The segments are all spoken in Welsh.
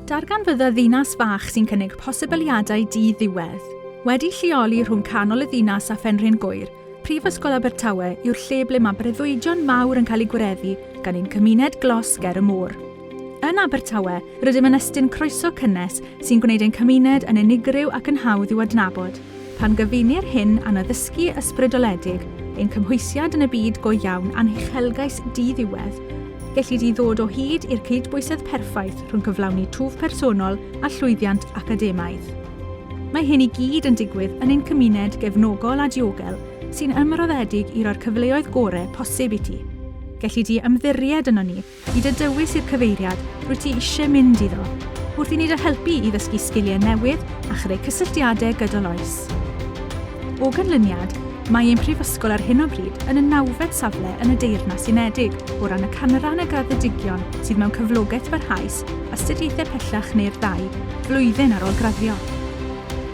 Darganfydda ddinas fach sy'n cynnig posibiliadau di-ddiwedd. Wedi lleoli rhwng canol y ddinas a Phenrhyn Gŵyr, Prifysgol Abertawe yw'r lle ble mae breuddwydion mawr yn cael eu gwireddu gan ein cymuned glos ger y môr. Yn Abertawe, rydym yn estyn croeso cynnes sy'n gwneud ein cymuned yn unigryw ac yn hawdd i'w adnabod. Pan gyfunir hyn â'n addysgu ysbrydoledig, ein cymhwysiad yn y byd go iawn a'n huchelgais di-ddiwedd, gelli di ddod o hyd i'r cydbwysedd perffaith rhwng cyflawni twf personol a llwyddiant academaidd. Mae hyn i gyd yn digwydd yn ein cymuned gefnogol a diogel sy'n ymroddedig i roi'r cyfleoedd gore posib i ti. Gelli di ymddiried ynon ni. I dy dywys i'r cyfeiriad rwyt ti eisiau mynd iddo, wrth i ni dy helpu i ddysgu sgiliau newydd a chreu cysylltiadau gydol oes. O ganlyniad, mae ein Prifysgol ar hyn o bryd yn y nawfed safle yn y Deyrnas Unedig o ran y canran y graddedigion sydd mewn cyflogaeth barhaus, astudiaethau pellach neu'r ddau flwyddyn ar ôl graddio.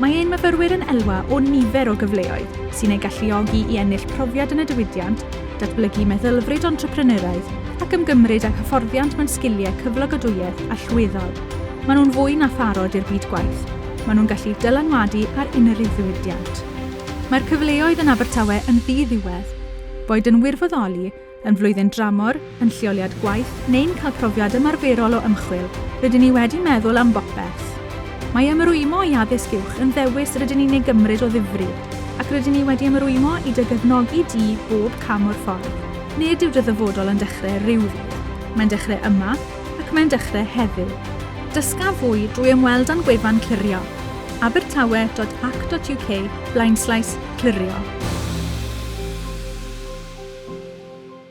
Mae ein myfyrwyr yn elwa o nifer o gyfleoedd sy'n eu galluogi i ennill profiad yn y diwydiant datblygu meddylfryd entrepreneuraidd ac ymgymryd ag hyfforddiant mewn sgiliau cyflogadwyedd allweddol. Maen nhw'n fwy na pharod i'r byd gwaith, maen nhw'n gallu dylanwadu ar unrhyw ddiwydiant. Mae'r cyfleoedd yn Abertawe yn ddi-ddiwedd. Boed yn wirfoddoli, yn flwyddyn dramor, yn lleoliad gwaith neu'n cael profiad ymarferol o ymchwil, rydyn ni wedi meddwl am bopeth. Mae ymrwymo i addysg uwch yn ddewis rydyn ni'n ei gymryd o ddifri, ac rydyn ni wedi ymrwymo i dy gefnogi di bob cam o'r ffordd. Nid yw dy ddyfodol yn dechrau rhyw ddydd, mae'n dechrau yma, ac mae'n dechrau heddiw. Dysga fwy drwy ymweld â'n gwefan clirio, abertawe dot ac dot uk blaenslaes clirio.